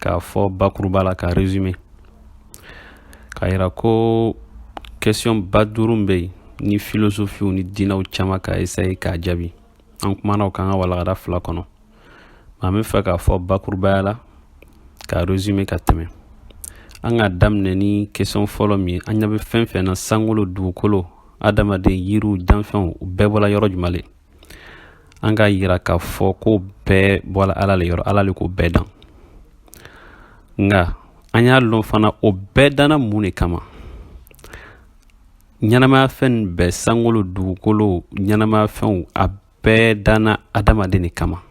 k'a fɔ bakuruba la ka resume k'a yira ko question ba duuru bɛ yen ni filosofiw ni diinɛw caman ka esaye k'a jaabi an kumana o kan ka walagada fila kɔnɔ an bɛ fɛ k'a fɔ bakurubaya la ka resume ka tɛmɛ an ka daminɛ ni question fɔlɔ min ye an ɲɛ bɛ fɛn fɛn na sankolo dugukolo adamaden yiriw danfɛnw u bɛɛ bɔla yɔrɔ juma le an k'a yira k'a fɔ k'o bɛɛ bɔla ala le yɔrɔ ala le k'o bɛɛ dan nka an y'a lɔn fana o bɛɛ danna mun de kama ɲɛnamaya fɛn bɛɛ sankolo dugukolo ɲɛnamaya fɛnw a bɛɛ danna adamaden de kama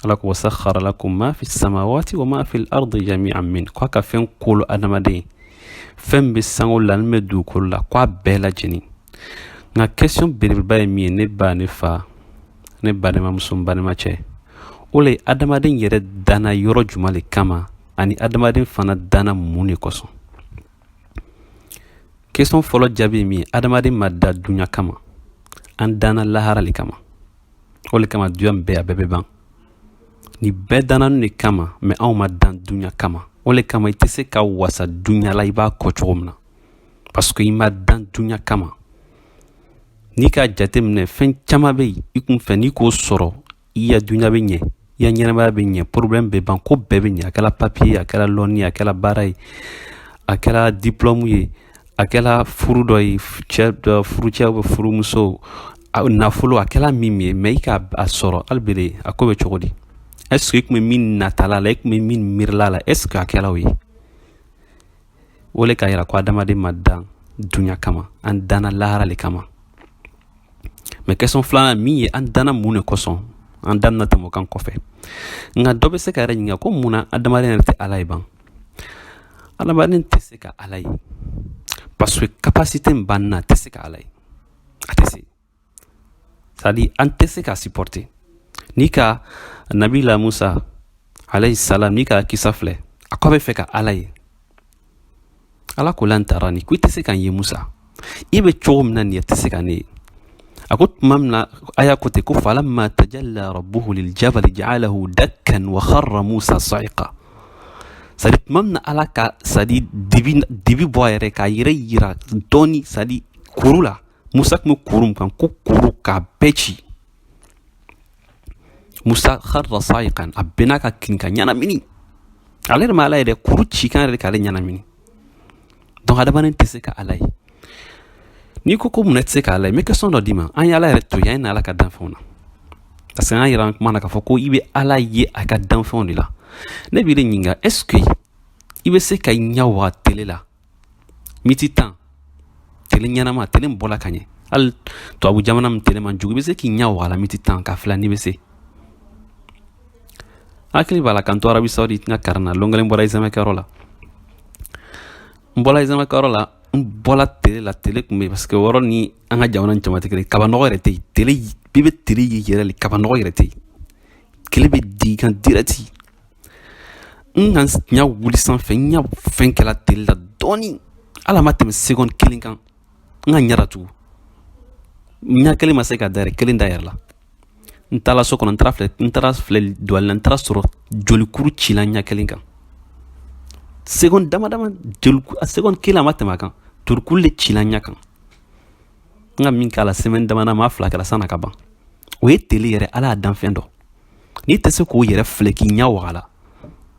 ala ko wa sakhara lakum ma fi samawati wa ma fil ardi jami'an minhu ko a ka fɛn kolo adamaden ye fɛn bɛ sankolo la min bɛ dugukolo la ko a bɛɛ lajɛlen nka question belebeleba ye min ye ne ba ne fa ne balimamuso n balimacɛ o le ye adamaden yɛrɛ danna yɔrɔ juma le kama ani adamaden fana danna mun de kosɔn question fɔlɔ jaabi ye min ye adamaden ma dan duɲa kama an danna lahara le kama o le kama dunya min bɛ a bɛɛ bɛ ban nin bɛɛ danna an de kama mais anw ma dan dunya kama o le kama i tɛ se ka wasa dunya la i b'a kɛ cogo min na parce que i ma dan dunya kama n'i k'a jateminɛ fɛn caman bɛ yen i kun fɛ n'i k'o sɔrɔ i ya dunya bɛ ɲɛ ya ɲɛnamaya bɛ ɲɛ problème bɛ ban ko bɛɛ bɛ ɲɛ a kɛla papier ye a kɛla lɔnni ye a kɛla baara ye a kɛla diplôme ye a kɛla furu dɔ ye cɛ dɔ furucɛ bɛ furumuso nafolo a kɛla min min ye mais i k'a sɔrɔ hali bele a ko bɛ cogo di est ce que i tun bɛ min natala la i tun bɛ min miirila la est ce que a kɛla o ye o le k'a yira ko adamaden ma dan dunya kama an danna lahara le kama mais question filanan min ye an danna mun de kosɔn an da bɛna tɛmɛ o kan kɔfɛ nka dɔ bɛ se k'a yɛrɛ ɲininka ko mun na adamaden yɛrɛ tɛ ala ye ban adamaden tɛ se ka ala ye parce que capacité min b'an na a tɛ se ka ala ye a tɛ se c'est à dire an tɛ se ka supporter n'i ka nabila musa alayhi salam n'i ka kisa filɛ a ko a bɛ fɛ ka ala ye ala ko lan tarani ko i tɛ se ka n ye musa i bɛ cogo min na nin ye i tɛ se ka ne ye a ko tuma min na a y'a kɛ ten ko falamma tajalla rabbuhu liljabali ja'alahu dakkan wa kharra musa sa'iqa c'est à dire tuma min na ala ka c'est à dire dibi dibi bɔ a yɛrɛ k'a yɛrɛ yira dɔɔni c'est à dire kuru la musa tun bɛ kuru min kan ko kuru k'a bɛɛ ci musa hara sayikan a benna ka kirin ka ɲɛnamini ale yɛrɛ ma ala ye dɛ kuru ci kan yɛrɛ k'ale ɲɛnamini donc adamaden tɛ se ka ala ye n'i ko ko munna tɛ se ka ala ye n bɛ question dɔ d'i ma an ye ala yɛrɛ to yen an ye na ala ka danfɛnw na parce que an y'a yira an kuma na k'a fɔ ko i bɛ ala ye a ka danfɛnw de la ne b'i de ɲininka est ce que i bɛ se k'i ɲɛ waga tele la miniti tan tele ɲɛnama tele min bɔla ka ɲɛ hali tubabu jamana min tele man jugu i bɛ se k'i ɲɛ wag'a la miniti tan k'a filɛ n'i bɛ se hakili b'a la ka n to arabi saudi n ka karan na lon kelen bɔra izamɛkɛyɔrɔ la n bɔla izamɛkɛyɔrɔ la n bɔla tele la tele tun bɛ parce que yɔrɔ ni an ka jamana jama tɛ kelen kaba nɔgɔ yɛrɛ tɛ yen tele bɛɛ bɛ tele ye yɛrɛ le kaba nɔgɔ yɛrɛ tɛ yen tele bɛ d'i kan direct N ka ɲɛ wuli sanfɛ n ɲɛ fɛn kɛra tile la dɔɔnin hali a ma tɛmɛ seconde kelen kan n ka ɲɛ tugun ɲɛ kelen ma se ka da kelen da yɛrɛ la n taara so kɔnɔ filɛ n taara filɛ don la n taara sɔrɔ jolikuru cila ɲɛ kelen kan seconde dama dama seconde kelen a ma tɛmɛ kan jolikuru de cila ɲɛ kan n ka min k'a la sɛ dama ma fila kɛra sann'a ka ban o ye tele yɛrɛ ala ya danfɛn dɔ n'i tɛ se k'o yɛrɛ filɛ k'i ɲɛ wag'a la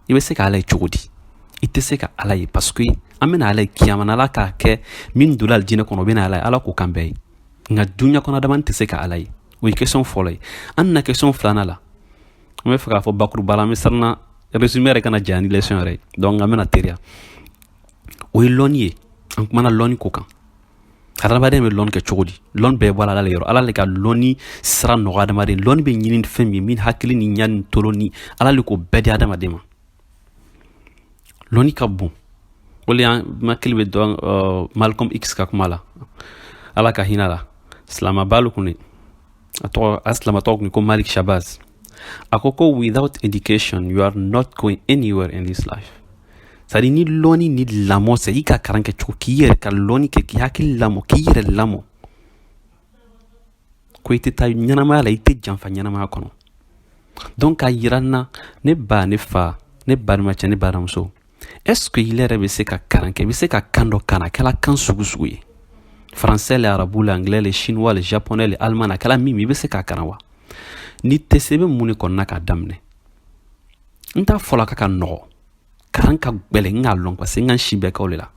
i bɛ se ka ala ye cogo di i tɛ se ka ala ye parce que an bɛna ala ye kiyama na ala k'a kɛ min donna alijinɛ kɔnɔ o bɛna ala ye ala k'o k'an bɛɛ ye nka duɲa kɔnɔ adamaden tɛ se ka ala ye o ye question fɔlɔ ye an na question filanan la an bɛ fɛ k'a fɔ bakuruba la an bɛ siranna résumé yɛrɛ kana janya ni leçon yɛrɛ ye donc an bɛna teriya o ye lɔnni ye an kumana lɔnni ko kan hadamaden bɛ lɔn kɛ cogo di lɔn bɛɛ bɔla ala le yɔrɔ ala le ka lɔnni sira nɔgɔ adamaden lɔnni bɛ ɲini fɛn min min hakili ni ɲa ni tolo ni ala le k'o bɛɛ di adamaden ma lɔnni ka bon o le y'an hakili bɛ dɔn uh, malcolm x ka kuma la ala ka hin'a la silamaba le tun de a tɔgɔ a silama tɔgɔ tun ko malik shabaz a ko ko without education you are not going anywhere in this life c'est-à-dire ni lɔni ni lamɔ tɛ i ka karan kɛ cogo k'i yɛrɛ ka lɔni kɛ k'i hakili lamɔ k'i yɛrɛ lamɔ ko i tɛ taa ɲɛnamaya la i tɛ janfa ɲɛnamaya kɔnɔ donc k'a yira n na ne ba ne fa ne balimacɛ ne balimamuso est-ce que ile yɛrɛ bɛ se ka kalan kɛ i bɛ se ka kan dɔ kalan a kɛra kan sugu sugu ye français le arabu le anglais le chinois le japonais le allemand a kɛra min i bɛ se k'a kalan wa n'i tɛ se i bɛ mun de kɔnɔna k'a daminɛ n t'a fɔla k'a ka nɔgɔ kalan ka gɛlɛn n k'a lɔn parce que n ka n si bɛɛ kɛ o de la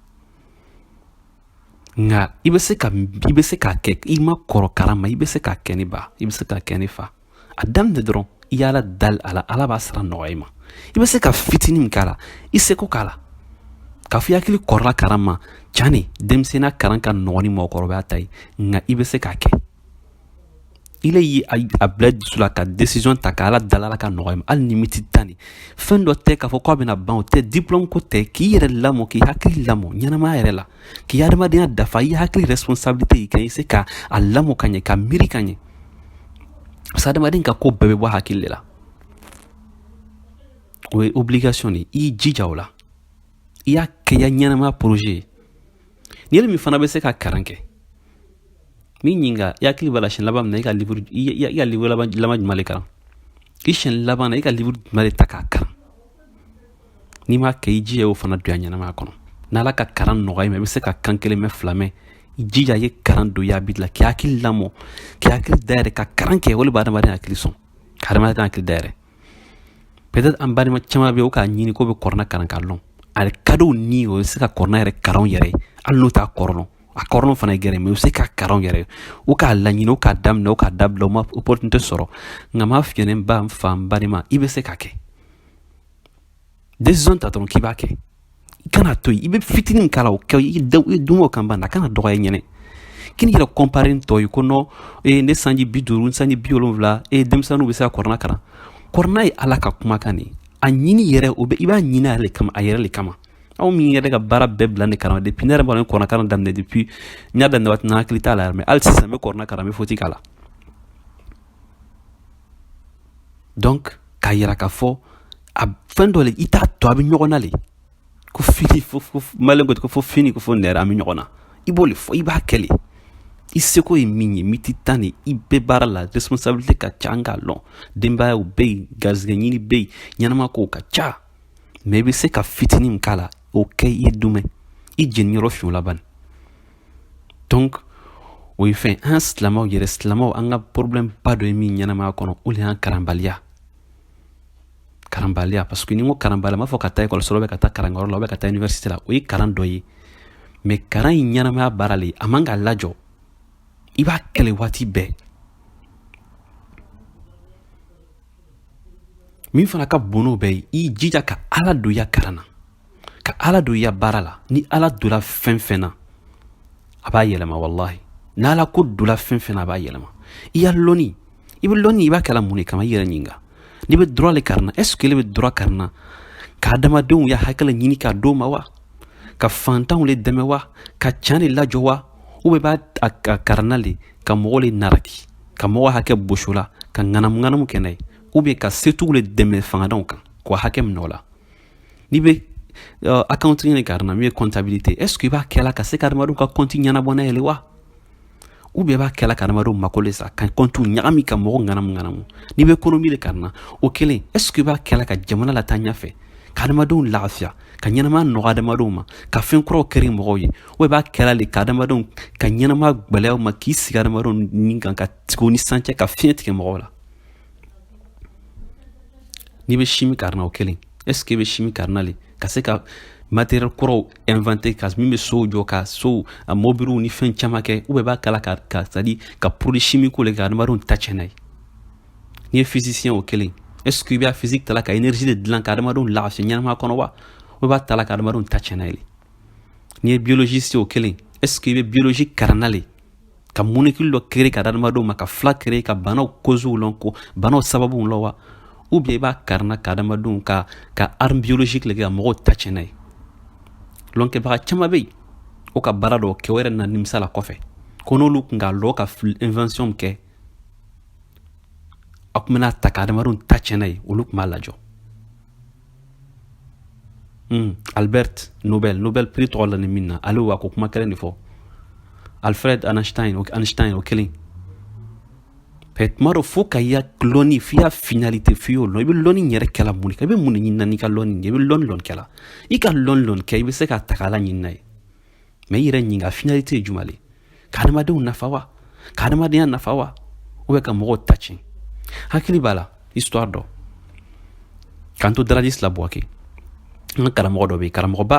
nka i bɛ se ka i bɛ se k'a kɛ i ma kɔrɔ kalan ma i bɛ se k'a kɛ ne ba i bɛ se k'a kɛ ne fa a daminɛ dɔrɔn i y'ala dali a la ala b'a sira nɔgɔya i ma i bɛ se ka fitinin min k'a la i seko k'a la ka fɔ i hakili kɔrɔla karan ma can ne denmisɛnninya karan ka nɔgɔn ni mɔgɔkɔrɔbaya ta ye nka i bɛ se k'a kɛ ile ye a bila dusu la ka décision ta ka ala dali a la k'a nɔgɔya i ma hali ni miniti tan de fɛn dɔ tɛ k'a fɔ k'a bɛna ban o tɛ diplɔmu ko tɛ k'i yɛrɛ lamɔ k'i hakili lamɔ ɲɛnamaya yɛrɛ la k'i adamadenya dafa i hakili responsabilité i ka i se ka a lamɔ ka ɲɛ ka miiri ka ɲɛ parce adamaden ka ko bɛɛ bɛ bɔ hakili de la o ye obligation de i jija o la i y'a kɛ ya ɲɛnama projet ye n'i yɛrɛ min fana bɛ se ka karan kɛ n b'i ɲininka i hakili b'a la siɲɛ laban min na i ka livre i ka livre laban jumɛn de kalan i siɲɛ laban na i ka livre jumɛn de ta k'a kalan n'i m'a kɛ i jija y'o fana don i ya ɲɛnamaya kɔnɔ n'ala ka karan nɔgɔya i ma i bɛ se ka kan kelen mɛn fila mɛn i jija ye karan don i ya habitude la k'i hakili lamɔ k'i hakili dayɛlɛ ka karan kɛ o de bɛ adamadenya hakili sɔn ka adamadenya hakili dayɛlɛ peut-être an balima caman bɛ yen o k'a ɲini k'o bɛ kurana karan k'a lɔn ale kadɔw ni o bɛ se ka kurana yɛrɛ karan u yɛrɛ hali n'o t'a kɔrɔ lɔn a kɔrɔ lɔn fana ye gɛrɛ mɛ u bɛ se k'a karan u yɛrɛ u k'a laɲini u k'a daminɛ u k'a dabila u ma opportunité sɔrɔ nka n b'a f'i yɛ n ba n fa n balima i bɛ se k'a kɛ desizɔn ta dɔrɔn k'i b'a kɛ i kan'a to yen i bɛ fitinin min k'a la o kɛ i da i dun o kan ban a kana dɔgɔya i ɲɛ na k'i n'i yɛrɛ kɔnpare tɔw ye ko non ee ne sanji bi duuru n sanji bi wolonwula ee denmisɛnninw bɛ se ka kurana kalan kurana ye ala ka kumakan de ye a ɲini yɛrɛ o bɛ i b'a ɲini a yɛrɛ de kama a yɛrɛ de kama aw min yɛrɛ ka baara bɛɛ bila ne kalan depuis ne yɛrɛ b'a dɔn kurana kalan daminɛ depuis n y'a daminɛ waati min na hakili t'a la yɛrɛ mɛ hali sisan n bɛ kurana kalan n bɛ foti k'a la donc k'a yira k'a fɔ a fɛn dɔ le i t'a to a bɛ ɲɔgɔn na le ko fini fo fo maliyɛnw ko ten ko fo fini ko fo nɛrɛ an bɛ ɲɔgɔn na i b'o le fɔ i b'a kɛ le i seko ye min ye miniti tan de i bɛ baara la responsabilité ka ca an k'a lɔn denbayaw bɛ yen garisigɛ ɲini bɛ yen ɲɛnama kow ka ca mɛ i bɛ se ka fitinin min k'a la o kɛ i ye du moins i jeniyɔrɔ fin o la bani o ye fɛn an silamɛw yɛrɛ silamɛw an ka problème ba dɔ ye min ɲɛnamaya kɔnɔ o de y'an karanbaliya karanbaliya parce que n'i ko karanbaliya m'a fɔ ka taa ekɔliso la ka taa karankɛyɔrɔ la ou bien ka taa université la o ye karan dɔ ye mais karan in ɲɛnamaya baara le a man ka lajɔ i b'a kɛ le waati bɛɛ min fana ka bon n'o bɛɛ ye i jija ka ala don i ya karan na ka ala don i ya baara la ni ala donna fɛn fɛn na a b'a yɛlɛma walahi n'ala ko donna fɛn fɛn na a b'a yɛlɛma i ya lɔnni i bɛ lɔnni i b'a kɛla mun de kama i yɛrɛ ɲininka n'i bɛ droit le karanna est ce que ile bɛ droit karanna ka adamadenw ya hakɛ ɲini k'a d'o ma wa ka fantanw le dɛmɛ wa ka can le lajɔ wa ou bien b'a karanna le ka mɔgɔ le naraki ka mɔgɔ hakɛ bɔs'o la ka ŋanamu ŋanamu kɛ n'a ye ou bien ka setigiw le dɛmɛ fangantanw kan k'u hakɛ minɛ o la N'i bɛ uh, accounting de karanna min ye comptabilité est ce que i b'a kɛla ka se ka adamadenw ka compte ɲɛnabɔ n'a ye wa ou bien b'a kɛla ka adamadenw mako le sa ka compte ɲagami ka mɔgɔ ŋanamu ŋanamu n'i bɛ économie de karanna o kelen est ce que i b'a kɛla ka jamana lataa ɲɛfɛ ka adamadenw lafiya ka ɲɛnama nɔgɔ adamadenw ma ka fɛn kuraw créer mɔgɔw ye ou b'a kɛla le ka adamadenw ka ɲɛnama gwɛlɛya o ma k'i sigi adamadenw ni kan ka tigiw ni sancɛ ka fiɲɛ tigɛ mɔgɔw la n'i bɛ chimie karanna o kelen est-ce que i bɛ chimie karanna le ka se ka matériel kuraw inventer ka min bɛ sow jɔ ka sow a mobiliw ni fɛn caman kɛ ou bien b'a kɛla ka ka c'est à dire ka produit chimique créer ka adamadenw ta tiɲɛ n'a ye n'i ye physicien o kelen est-ce que i bɛ physique tala ka énergie de dilan ka adamadenw lafiya ɲɛnama kɔnɔ wa ou b'a tala ka adamadenw ta tiɲɛ n'a ye n'i ye biologiste o kelen est-ce que i bɛ biologie karanna le ka molécule dɔ créer ka adamadenw ma ka fila créer ka banaw causew lɔn ka banaw sababuw lɔn wa ou bien i b'a karanna ka adamadenw ka ka arme biologique le kɛ ka mɔgɔw ta tiɲɛ n'a ye lɔnkɛbaga caman bɛ yen o ka baara dɔw kɛ o yɛrɛ na nimisa la kɔfɛ ko n'olu tun k'a lɔn ka invention kɛ a tun bɛna ta ka adamadenw ta tiɲɛ n'a ye olu tun b'a lajɔ Hmm, Albert Nobel Nobel prix tɔgɔ lanin min na ale wa ka kuma kelen de fɔ Alfred Einstein Einstein o kelen mais tuma dɔ fo ka i ya lɔnni f'i y'a finalité f'i y'o lɔn i bɛ lɔnni yɛrɛ kɛla mun de kan i bɛ mun de ɲinina n'i ka lɔnni ye i bɛ lɔnni lɔn kɛla i ka lɔnni lɔn kɛ i bɛ se k'a ta k'ala ɲini n'a ye mais i yɛrɛ ɲininka finalité ye juma le ka adamadenw nafa wa ka adamadenya nafa wa ou bien ka mɔgɔw ta tiɲɛ hakili b'a la histoire dɔ k'an to daradisi la buwake an ka karamɔgɔ dɔ bɛ yen karamɔgɔba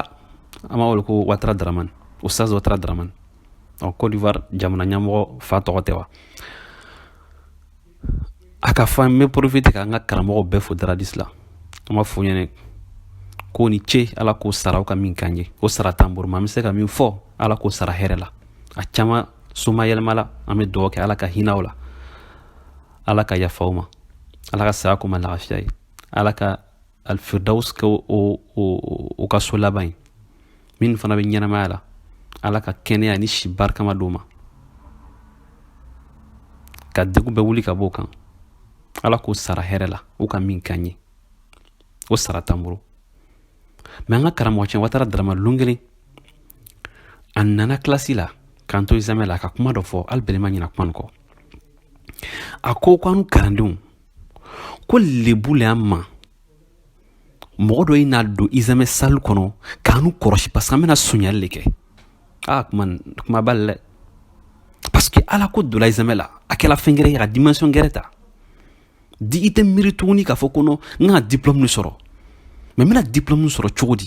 an b'a wele ko watara daramani oustaz watara daramani ɔ cote d'ivoire jamana ɲɛmɔgɔ fa tɔgɔ tɛ wa a ka fɔ n bɛ profiter ka an ka karamɔgɔ bɛɛ fo daradisi la an b'a f'o ɲɛna k'o ni ce ala k'o sara o ka min k'an ye o sara t'an bolo mais an bɛ se ka min fɔ ala k'o sara hɛrɛ la a caman somayɛlɛmala an bɛ duga kɛ ala ka hinɛ o la ala ka yafa o ma ala ka saya k'o ma lafiya ye ala ka alifiridawusi kɛ o ka so laban ye min fana bɛ ɲɛnamaya la ala ka kɛnɛya ni si barikama d'u ma ka degun bɛɛ wuli ka bɔ u kan ala k'o sara hɛrɛ la u ka min k'an ye o sara t'an bolo mɛ an ka karamɔgɔ cɛ watara darama lon kelen a nana kilasi la k'an to izamɛ la a ka kuma dɔ fɔ hali bɛlɛ n ma ɲinɛ kuma kɔ a ko ko an kalandenw ko lebu le an ma mɔgɔ dɔ ye na don izamɛ sali kɔnɔ k'anu kɔrɔsi parce que an bɛna sonyali le kɛ aa kuma kuma b'a la dɛ parce que ala ko donna izamɛ la a kɛra fɛn gɛrɛ ye a ka dimension gɛrɛ ta di i tɛ miiri tuguni k'a fɔ ko non n ka diplôme de sɔrɔ mɛ n bɛna diplôme sɔrɔ cogo di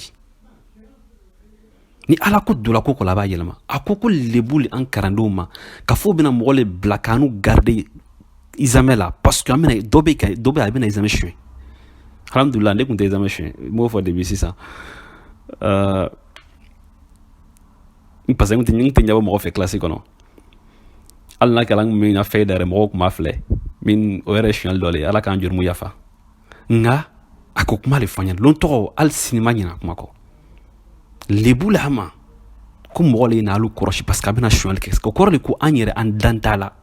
ni ala ko donna ko ko la a b'a yɛlɛma a ko ko lebu le an kalandenw ma k'a fɔ o bɛna mɔgɔ le bila k'anu garide izamɛ la parce que an bɛna dɔ bɛ ka dɔ bɛ a bɛna izamɛ suɲɛ alhamdulilah ne tun tɛ izamɛ suɲɛ n b'o fɔ depi sisan ɛɛ n parce que n tɛ n tɛ ɲɛbɔ mɔgɔ fɛ kilasi kɔnɔ hali n'a kɛra n tun bɛ n ka fɛn da yɛrɛ mɔgɔw tun b'a filɛ mɛ o yɛrɛ ye suɲɛli dɔ le ye ala k'an jurumuw yafa nka a k'o kuma le fɔ an ɲɛna lon tɔgɔ hali sini n ma ɲinɛ kuma kɔ lebu l'a ma ko mɔgɔ le ye na alu kɔrɔsi parce que a bɛna sonyali kɛ o kɔrɔ le ko an yɛrɛ an dan t'a la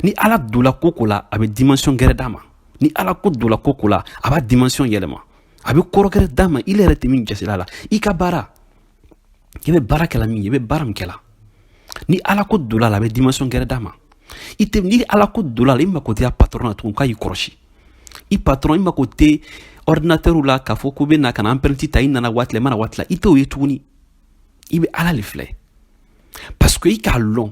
ni ala dola ko ko la a bɛ dimension gɛrɛ d'a ma ni ala ko dola ko ko la a b'a dimension yɛlɛma a bɛ kɔrɔ gɛrɛ d'a ma i yɛrɛ tɛ min jasira la i ka baara i bɛ baara kɛla min ye i bɛ baara min kɛla ni ala ko dola a la a bɛ dimension gɛrɛ d'a ma i tɛ ni ala ko dola a la i mako tɛ i ya patɔrɔn na tugun k'a y'i kɔrɔsi i patɔrɔn i mako tɛ ɔridinatɛriw la k'a fɔ ko o bɛna ka na anpɛrɛnti ta i nana waati la i ma na waati la i t'o ye tuguni i bɛ ala de filɛ parce que i k'a lɔn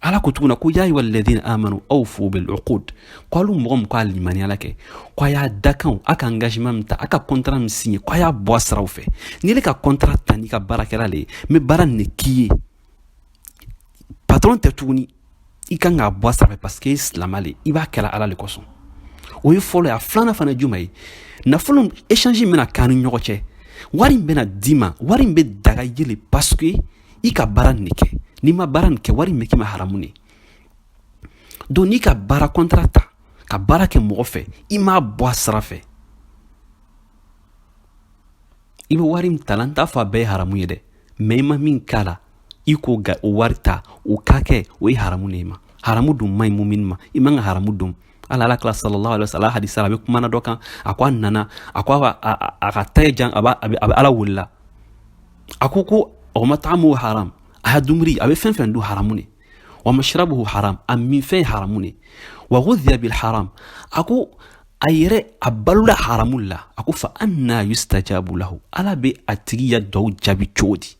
ala ko tuguna ko yaa ayuha ladina amanu awufu bil uqud ko alu mɔgɔ min ko a limaniyala kɛ ko a y'a dakanw a ka engagement min ta a ka contrat min signe ko a y'a bɔ a siraw fɛ n'i ye ka contrat ta n'i ka baarakɛla le ye n bɛ baara nin de k'i ye patron tɛ tuguni i kan k'a bɔ a sira fɛ parce que i ye silama le i b'a kɛla ala le kosɔn o ye fɔlɔ ye a filanan fana ye jumɛn ye nafolo échange min bɛna k'an ni ɲɔgɔn cɛ wari min bɛna d'i ma wari in bɛ daga i ye le parce que i ka baara nin de kɛ n'i ma baara nin kɛ wari in bɛ k'i ma haramu de don n'i ka baara kɔntara ta ka baara kɛ mɔgɔ fɛ i m'a bɔ a sira fɛ i bɛ wari min ta la n t'a fɔ a bɛɛ ye haramu ye dɛ mɛ i ma min k'a la i k'o ka o wari ta o ka kɛ o ye haramu de ye i ma haramu dun man ɲi mumini ma i man ka haramu dun ala ala kila sallallahu alaihi wasallam hadisa a bɛ kumana dɔ kan a ko a nana a ko a ka ta jan a bɛ ala welela a ko ko wa mat'amuhu haram a ya dumuni a bɛ fɛn fɛn dun haramu ne wa mashrabuhu haram a minfɛn haramu ne wa ghudhiya bil haram a ko a yɛrɛ a balola haramu la a ko fa anna yustajabu lahu ala bɛ a tigi ya duwa jaabi cogo di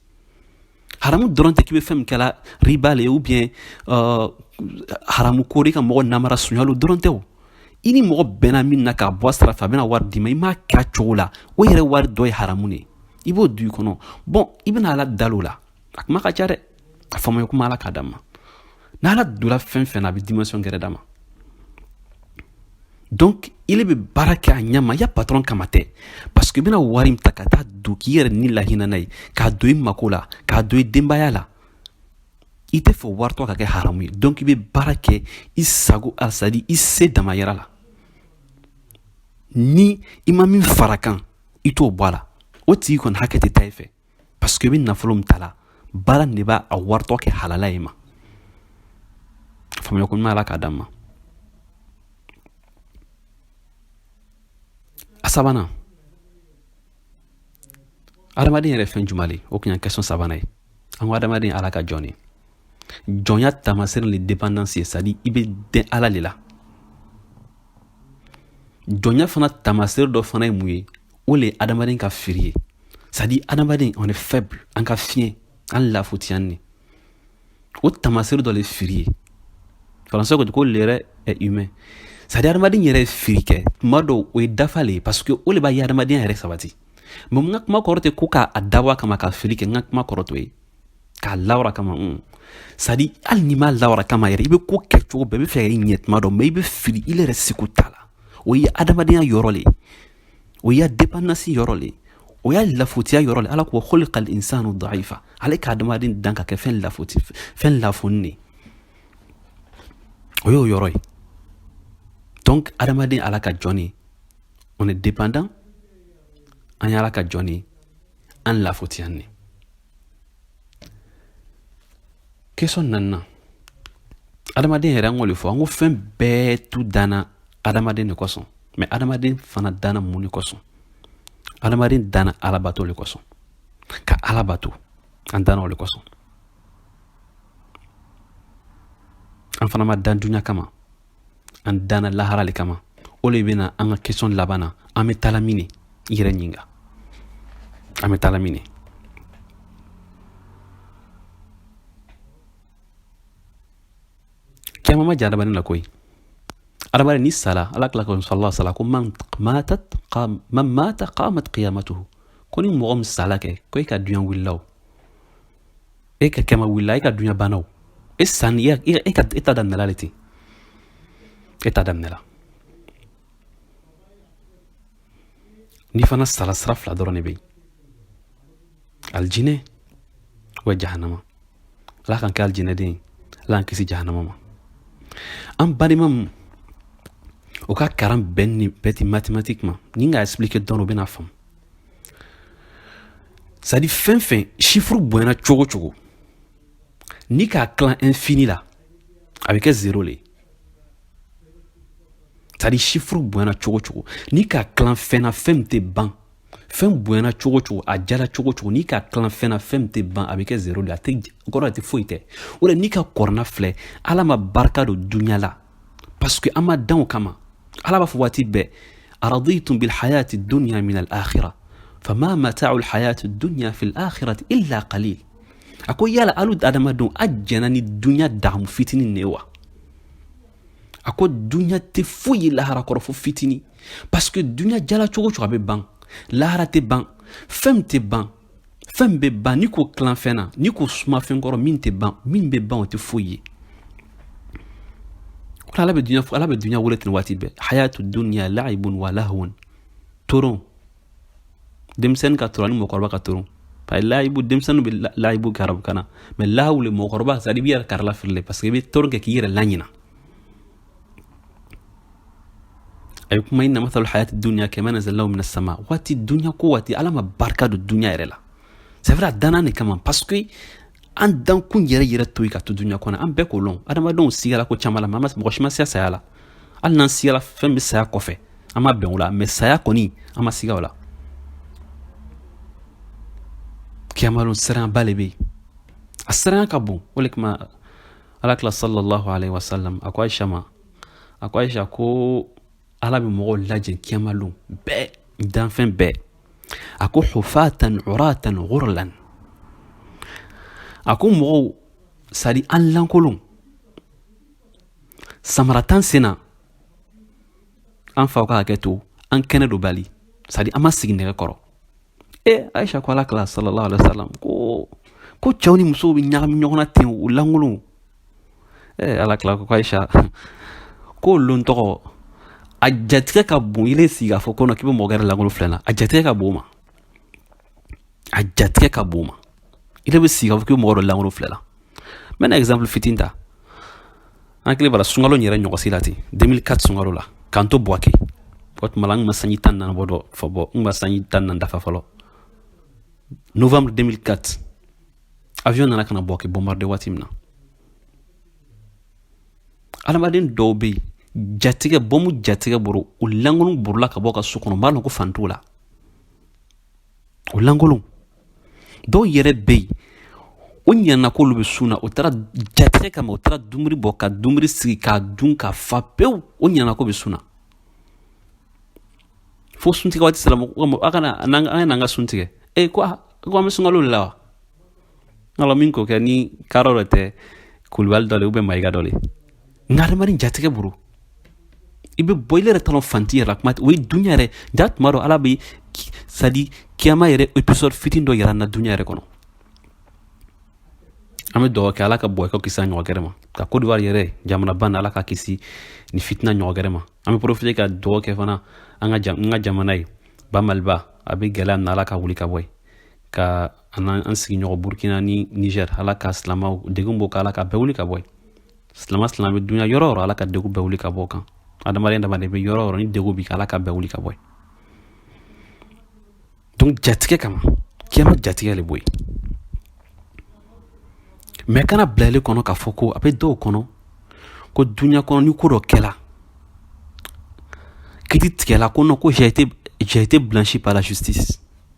haramu dɔrɔn tɛ k'i bɛ fɛn min kɛla riba le ou bien uh, haramu ko le i ka mɔgɔ namara sunya lo dɔrɔn tɛ o i ni mɔgɔ bɛnna min na k'a bɔ a sira fɛ a bɛna wari d'i ma i m'a kɛ a cogo la o yɛrɛ wari dɔ ye haramu ne i b'o don i kɔnɔ bon i bɛna ala dali o la a kuma ka ca dɛ a faamuya ko ɲuman ala k'a d'an ma n'a ala donna fɛn fɛn na a bɛ dimension gɛrɛ d'a ma donc ile bɛ baara kɛ a ɲɛma i ya patron kama tɛ parce que i bɛna wari min ta ka taa don k'i yɛrɛ ni lahinɛ n'a ye k'a don i mako la k'a don i denbaya la i tɛ fɛ wari tɔ ka kɛ haramu ye donc i bɛ baara kɛ i sago la c'est-à-dire i se dama yɛrɛ la ni i ma min fara kan i t'o bɔ a la o tigi kɔni hakɛ tɛ taa i fɛ parce que i bɛ nafolo min ta la baara nin de b'a a wari tɔ kɛ halala ye ma faamuya ko ɲuman ala k'a d'an ma a sabanan adamaden yɛrɛ fɛn jumɛn le o kun y'a question sabanan ye an ko adamaden ala ka jɔn de jɔnya taamasere le dépendance ye c'est-à-dire i bɛ dɛn ala le la jɔnya fana taamasere dɔ fana ye mun ye o le ye adamaden ka firi ye c'est-à-dire adamaden on est faible an ka fiɲɛ an lafutiyan ne o taamasere dɔ le firi ye français ko ko l'erreur est humaine c'est-à-dire adamaden yɛrɛ ye firi kɛ tuma dɔw o ye dafa le ye parce que o le b'a ya adamadenya yɛrɛ sabati mais n ka kuma kɔrɔ tɛ ko k'a dabɔ a kama ka fili kɛ n ka kuma kɔrɔ t'o ye k'a lawili a kama un c'est-à-dire hali n'i m'a lawili a kama yɛrɛ i bɛ ko kɛ cogo bɛɛ i b'a fɛ k'a ɲɛ tuma dɔ mais i bɛ fili i yɛrɛ seko t'a la o ye adamadenya yɔrɔ le ye o y'a dépendance yɔrɔ le o y'a lafutiya yɔrɔ le ala ko khuliqa al-insanu da'ifa ale ka adamaden dan ka kɛ fɛn lafuti fɛn lafunin de o y'o yɔrɔ ye donc adamaden ala ka jɔn ne on est dépendant an ye ala ka jɔn ne an lafutiyan ne question naaninan adamaden yɛrɛ an k'o le fɔ an ko fɛn bɛɛ tun danna adamaden le kosɔn mais adamaden fana danna mun ne kosɔn adamaden danna ala bato le kosɔn ka ala bato an danna o le kosɔn an fana ma dan dunya kama an danna lahara le kama o le bɛna an ka question laban na an bɛ taala min ne i yɛrɛ ɲininka an bɛ taala min ne caman ma jɛ adamaden na koyi adamaden ni sala alakila ka sala sala ko man matat man mata qamat qiyamatuhu ko ni mɔgɔ min sala kɛ ko i ka dunya wulila o e ka kiyama wulila e ka duɲa banna o e sanni e, e, e ka e ta daminɛla le ten e ta daminɛla n'i fana sala sira fila dɔrɔn de bɛ yen alijinɛ wa jahanama ala k'an kɛ alijinɛden ye ala k'an kisi jahanama ma an balima min o ka karan bɛɛ ni bɛɛ ti mathématique ma ni n ka expliquer dɔɔnin o bɛna faamu C'est à dire fɛn fɛn chiffre bonyana cogo cogo ni k'a tila infini la a bɛ kɛ zéro le ye c'est à dire chiffre bonyana cogo cogo ni k'a tila fɛn na fɛn min tɛ ban fɛn bonyana cogo cogo a jala cogo cogo ni k'a tila fɛn na fɛn min tɛ ban a bɛ kɛ zéro le kɔrɔ a tɛ foyi tɛ o la n'i ka kurana filɛ ala ma barika don dunya la parce que an ma dan o kama ala b'a fɔ waati bɛɛ araditum bilhayati dunya min alakhira fama matau lhayati dunya fi lakhirati illa qalil a ko yala alu adamadenw a jɛnna ni dunya dagamu fitini ne wa a ko dunya tɛ foyi ye lahara kɔrɔ fo fitini parce que dunya jala cogo cogo a bɛ ban lahara tɛ ban fɛn min tɛ ban fɛn bɛ ban n'i k'o tila fɛn na n'i k'o suma fɛn kɔrɔ min tɛ ban min bɛ ban o tɛ foyi ye ko ala bɛ dunya ala bɛ dunya wele ten waati bɛɛ hayatu dunya la'ibun wa lahwun toron denmisɛnnin ka toron ani mɔgɔkɔrɔba ka toron parce que layibu denmisɛnnin bɛ layibu kɛ arabukan na mais lahawu le mɔgɔkɔrɔba c'est à dire i b'i yɛrɛ hakili lafili le parce que i bɛ toron kɛ k'i yɛrɛ laɲina a ye kuma innama mathalul hayati duniya kamain anzalnahu mina sama waati duniya ko waati ala ma barika don duniya yɛrɛ la c'est vrai a danna ne kama parce que an dankun yɛrɛ yɛrɛ t'o ye an ka to duniya kɔnɔ an bɛɛ k'o lɔn adamadenw sigala ko caman la mɔgɔ si ma siga saya la hali n'an sigala fɛn bɛ saya kɔfɛ an ma bɛn o la mais saya kɔni an ma siga o la kiyamalon siranba le bɛ yen a siranya ka bon o de kama alakila sallallahu alaihi wasallam a ko aisha ma a ko aisha ko ala bɛ mɔgɔw lajɛ kiyamalon bɛɛ danfɛn bɛɛ a ko hufatan uratan ghurlan a ko mɔgɔw c'est à dire an lankolon samara t'an sen na an faw ka hakɛ to an kɛnɛdonbali c'est à dire an ma sigi nɛgɛ kɔrɔ ee ayisa ko ala kila sallallahu alaihi wasallam ko ko cɛw ni musow bɛ ɲagami ɲɔgɔn na ten u lankolonw ee ala kila ko ayisa k'o lon tɔgɔ a jatigɛ ka bon ile sigi k'a fɔ ko k'i bɛ mɔgɔ gɛrɛ lankolon filɛ na a jatigɛ ka bon o ma a jatigɛ ka bon o ma i bɛ sigi ka fɔ k'i mɔgɔ dɔ lankolon filɛ la n bɛna exemple fitinin ta an hakili b'a la sunkalo in yɛrɛ ɲɔgɔnsi la ten 2004 sunkalo la k'an to buwake o tuma la n tun ma sanji tan naani bɔ dɔ fɔ bɔ n tun ma sanji tan naani dafa fɔlɔ novembre 2004 avion nana ka na buwake bombarde waati min na adamaden dɔw bɛ yen jatigɛ bɔmu jatigɛ bolo u lankolon borola ka bɔ ka so kɔnɔ u m'a dɔn ko fani t'u la O lankolon dɔw yɛrɛ bɛ yen o ɲana k'olu bɛ sun na o taara jatigɛ kama o taara dumuni bɔ ka dumuni sigi k'a dun ka fa pewu o ɲana k'o bɛ sun na fo suntigɛ waati sera aw ka na an ka sun tigɛ ee ko ko an bɛ sunkalo de la wa Ala min ko kɛ ni tarawore tɛ kulubali dɔ u bɛ mayiga dɔ nkarima jatigɛ bolo i bɛ bɔ i yɛrɛ t'a lɔn fani t'i yɛrɛ kuma o ye dunya yɛrɛ ja tuma dɔn ala bɛ sadi kiyama yɛrɛ episode fitin dɔ yira an na dunya yɛrɛ kɔnɔ an bɛ duga kɛ ala ka buwake kisi ɲɔgɔn gɛrɛ ma ka kodowari yɛrɛ jamanaban na ala k'a kisi nin fitina ɲɔgɔn gɛrɛ ma an bɛ porofite ka duga kɛ fana an ka jamana ye ba maliba a bɛ gɛlɛya na ala ka wuli ka bɔ ye ka an an sigiɲɔgɔn burukina ni nizɛri ala ka silamɛw degun b'u kan ala ka bɛɛ wuli ka bɔ silamɛ silamɛ bɛ dunya yɔrɔ o yɔrɔ ala ka degun bɛɛ wuli ka bɔ u kan adamaden dama de bɛ yɔrɔ o yɔrɔ ni degun bɛ ala ka bɛɛ wuli ka bɔ donc jatigɛ kiyama kɛnɛ ma jatigɛ de bɛ yen mais kan'a bila i kɔnɔ k'a fɔ ko a bɛ dɔw kɔnɔ ko dunya kɔnɔ ni ko dɔ kɛla kiti tigɛla ko non ko j'ai été blanchi par la justice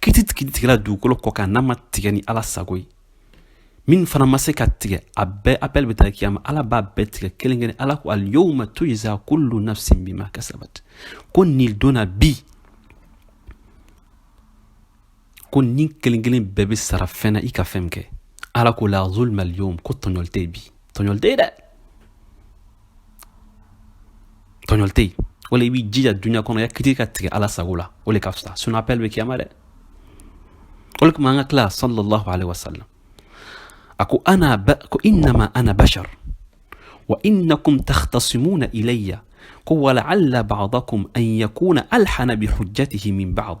kiti kiti tigɛla dugukolo kɔ kan n'a ma tigɛ ni ala sago ye min fana ma se ka tigɛ a bɛɛ appel bɛ taa kiyama ala b'a bɛɛ tigɛ kelen kelen ala ko alyawma tujza kullu nafsin bima kasabat ko nin don na bi ko ni kelen kelen bɛɛ bɛ sara fɛn na i ka fɛn kɛ ala ko la zulma alyawm ko tɔɲɔli tɛ bi tɔɲɔli tɛ dɛ tɔɲɔli tɛ o la i b'i jija dunya kɔnɔ yan kiti ka tigɛ ala sago la o de ka fisa sinon appel bɛ kiyama dɛ o de tuma an ka kila sallallahu alaihi wasallam a ko ana ko innama ana bashar wa innakum takhtasimuna ilayya ko wala'alla ba'dakum an yakuna alhana bi hujjatihi min ba'd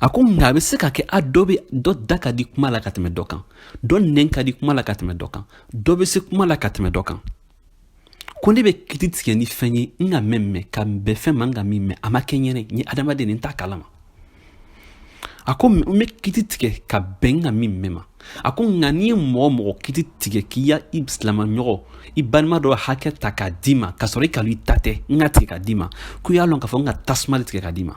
a ko nka a bɛ se ka kɛ a dɔ bɛ dɔ da ka di kuma la ka tɛmɛ dɔ kan dɔ nɛn ka di kuma la ka tɛmɛ dɔ kan dɔ bɛ se kuma la ka tɛmɛ dɔ kan ko ne bɛ kiti tigɛ ni fɛn ye n ka min mɛn ka bɛn fɛn ma n ka min mɛn a ma kɛ n yɛrɛ n ye adamaden n t'a kalama a ko n bɛ kiti tigɛ ka bɛn n ka min mɛn ma a ko nka n'i ye mɔgɔ mɔgɔ kiti tigɛ k'i ya i silamɛɲɔgɔ i balima dɔ hakɛ ta k'a d'i ma k'a sɔrɔ i k'a lɔn i ta tɛ n ka tigɛ k'a d'i ma ko y'a lɔn k'a fɔ n ka tasuma de tigɛ k'a d'i ma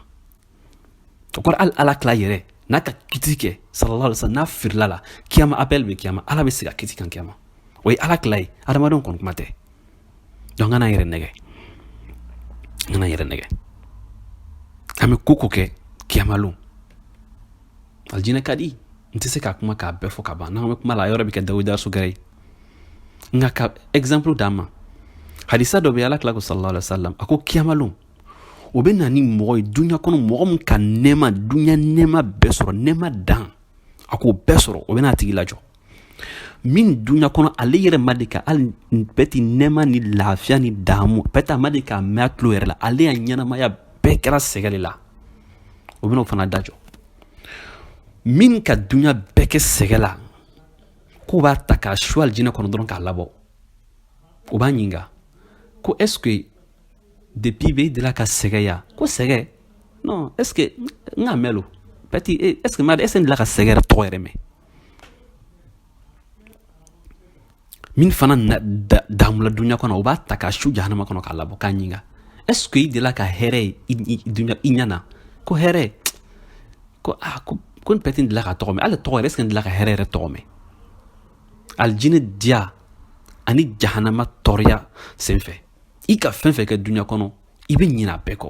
o kɔrɔ hali ala kila yɛrɛ n'a ka kiti kɛ sallallahu alaihi wasallam n'a firila la kiyama appel bɛ kiyama ala bɛ sigi a kiti kan kiyama o ye ala kila ye adamadenw kɔni kuma tɛ dɔn an kana yɛrɛ nɛgɛn an kana yɛrɛ nɛgɛn an bɛ ko ko kɛ kiyamalon alijinɛ ka di n tɛ se ka kuma k'a bɛɛ fɔ ka ban n'an bɛ kuma la yɔrɔ bɛ kɛ dawuda sugɛrɛ ye nka ka exemple d'aw ma hadisa dɔ bɛ ala kila ko sallallahu alaihi wasallam a ko kiyamalon o bɛ na ni mɔgɔ ye dunya kɔnɔ mɔgɔ min ka nɛɛma dunya nɛɛma bɛɛ sɔrɔ nɛɛma dan a k'o bɛɛ sɔrɔ o bɛ n'a tigi lajɔ min dunya kɔnɔ ale yɛrɛ ma deli ka hali pɛti nɛɛma ni lafiya ni daamu pɛti a ma deli k'a mɛn a tulo yɛrɛ la ale ya ɲɛnamaya bɛɛ kɛra sɛgɛ de la o bɛna o fana lajɔ min ka dunya bɛɛ kɛ sɛgɛ la k'u b'a ta k'a su alijinɛ kɔnɔ dɔrɔn k'a labɔ o b'a ɲininka ko est ce que depuis bɛ i delila ka sɛgɛ ye a ko sɛgɛ non est ce que n k'a mɛn lo pɛti est ce que n b'a dɔn est ce que n delila ka sɛgɛ yɛrɛ tɔgɔ yɛrɛ mɛn min fana daamula dunya kɔnɔ o b'a ta k'a su jahanama kɔnɔ k'a labɔ k'a ɲinga est ce que i delila ka hɛrɛ ye i ɲɛ na ko hɛrɛ ko a ah, ko ko n pɛti delila k'a tɔgɔ mɛn hali a tɔgɔ yɛrɛ est ce que n delila ka hɛrɛ yɛrɛ tɔgɔ mɛn alijinɛ diya ani jahanama tɔɔrɔya senfɛ i ka fɛn fɛn kɛ dunya kɔnɔ i bɛ ɲinɛ a bɛɛ kɔ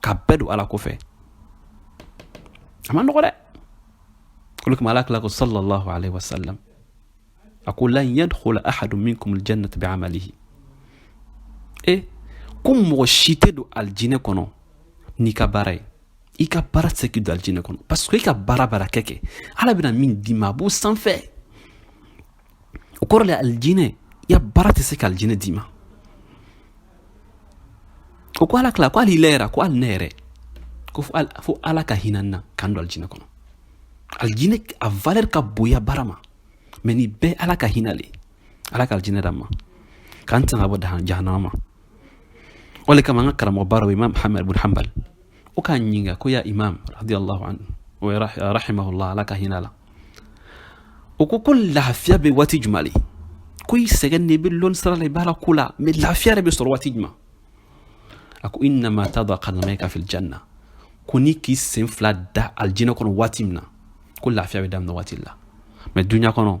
ka bɛɛ don ala kɔfɛ a ma nɔgɔ dɛ o le kama ala kila ko sallallahu alaihi wasallam a ko lan yadkhula ahadun minkum aljannata bi'amalihi e ko mɔgɔ si tɛ don alijinɛ kɔnɔ n'i ka baara ye i ka baara tɛ se k'i don alijinɛ kɔnɔ parce que i ka baara baara kɛ kɛ ala bɛna min d'i ma a b'o sanfɛ o kɔrɔ le alijinɛ i ya baara tɛ se ka alijinɛ d'i ma o ko ala kila ko hali ile yɛrɛ a ko hali ne yɛrɛ ko fo ala ka hinɛ an na k'an don alijinɛ kɔnɔ alijinɛ a valeur ka bon i ya baara ma mais nin bɛɛ ala ka hinɛ le ala ka alijinɛ d'an ma k'an tanga bɔ jahanama ma o le kama an ka karamɔgɔbaw imam ahmad bun hanbal o k'a ɲininka ko ya imam radiyallahu anhu o ye rahimahullah ala ka hinɛ a la o ko ko lafiya bɛ waati jumɛn de ko i sɛgɛnnen bɛ lɔnni sira la i b'ala ko la mɛ lafiya yɛrɛ bɛ sɔrɔ waati jumɛn a ko innama tada qadamayka fil janna ko n'i k'i sen fila da alijinɛ kɔnɔ waati min na ko lafiya bɛ daminɛ waati la mɛ duɲa kɔnɔ